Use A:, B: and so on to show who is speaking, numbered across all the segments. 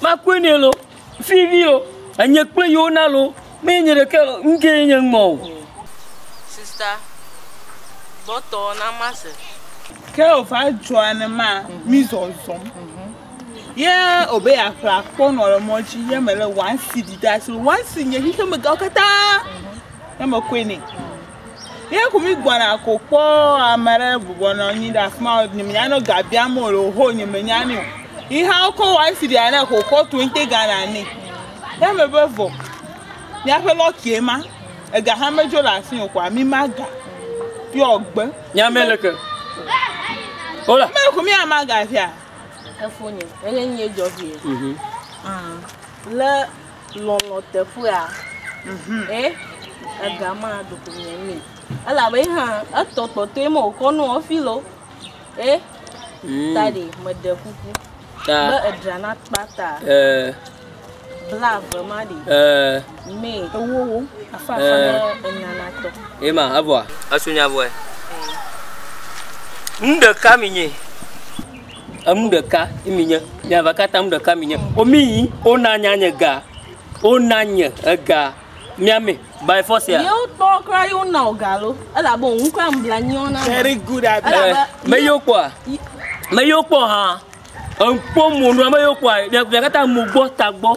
A: Makɔe nɛ loo, fifi o, enye kple yewo na loo, menye nye ɖekɛ o, ŋkee nye ŋmɔ o. Sista,
B: gbɔtɔ na mase. Ke wòva
C: dzɔa ne ma mí zɔzɔm. Ye wòbe yeaƒle akpɔ nɔ le mɔ dzi ye melé wansi ɖi ɖe asi. Wansi nye xexemegawo katã ye mekɔe nɛ. Ye ku mi gbɔna ko kpɔ ame aɖe bɔbɔnɔ anyi ɖe afi ma nye menya ne ga biam wò le oho nye menya nɛ o. Yi hã wokɔ wɔ esi ɖea ne ko kɔ tu ŋte gana nɛ. Ye me be vɔ miaƒe lɔki ye ma ega hã medzo le asi o kɔa mi ma ga ye wògbe. Nya me le ke.
A: Hola. Me ku mi ama
C: ga fia. Efonye.
B: Eye nye dzɔ vie. Mhm. Ah. Le Lɔlɔ̃ teƒea? Ɛ, ega ma ɖeko miɛ nɛ. Elabe ye hã etɔ kpɔtɔe me wòkɔ nɔ hafi lɔ. Ɛ, ta ɖe meɖe kuku be edra na kpata blaeve ma ɖe mɛ ewowo afa afa be enyanatɔ. Ye ma evɔa?
A: Esu nya vɔɛ. Nu ɖeka mi nyi. Enu ɖeka ye mi nye. Nye va katã nu ɖeka mi nye. O mi yi, o na nya nye ga. O na nye ega. Mia me, by force ya. Yewo kpɔ kura yewo
B: na o ga lo. Ela bo ŋu kura ŋu bla nyiwo na. Very good at that.
C: Me yo kpɔ a.
A: Me yo kpɔ ha. Enkpɔ mo nua me yo kpɔ a. Mia katã mo gbɔ ta gbɔ.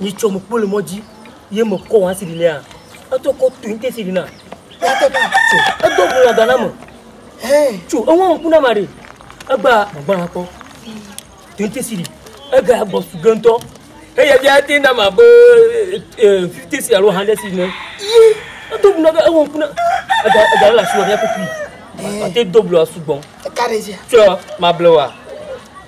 A: Ni tsɔ mo kpo le mɔdzi ye me kɔ wa siri nea. Eto ko tu inte siri na. Ate ka tso. Edo bu la gana mo. Hey. Tso e won kuna mari. Egba gba na ko. Tu inte siri. Ega bo su gento. Hey ya bia te na ma bo eh fifte si alo hande si ne. Ye. Edo bu na ga e won kuna. Ega ega la shu ya ko fi. Ate do bu la su bon. Eka de je. Tso
C: ma blewa.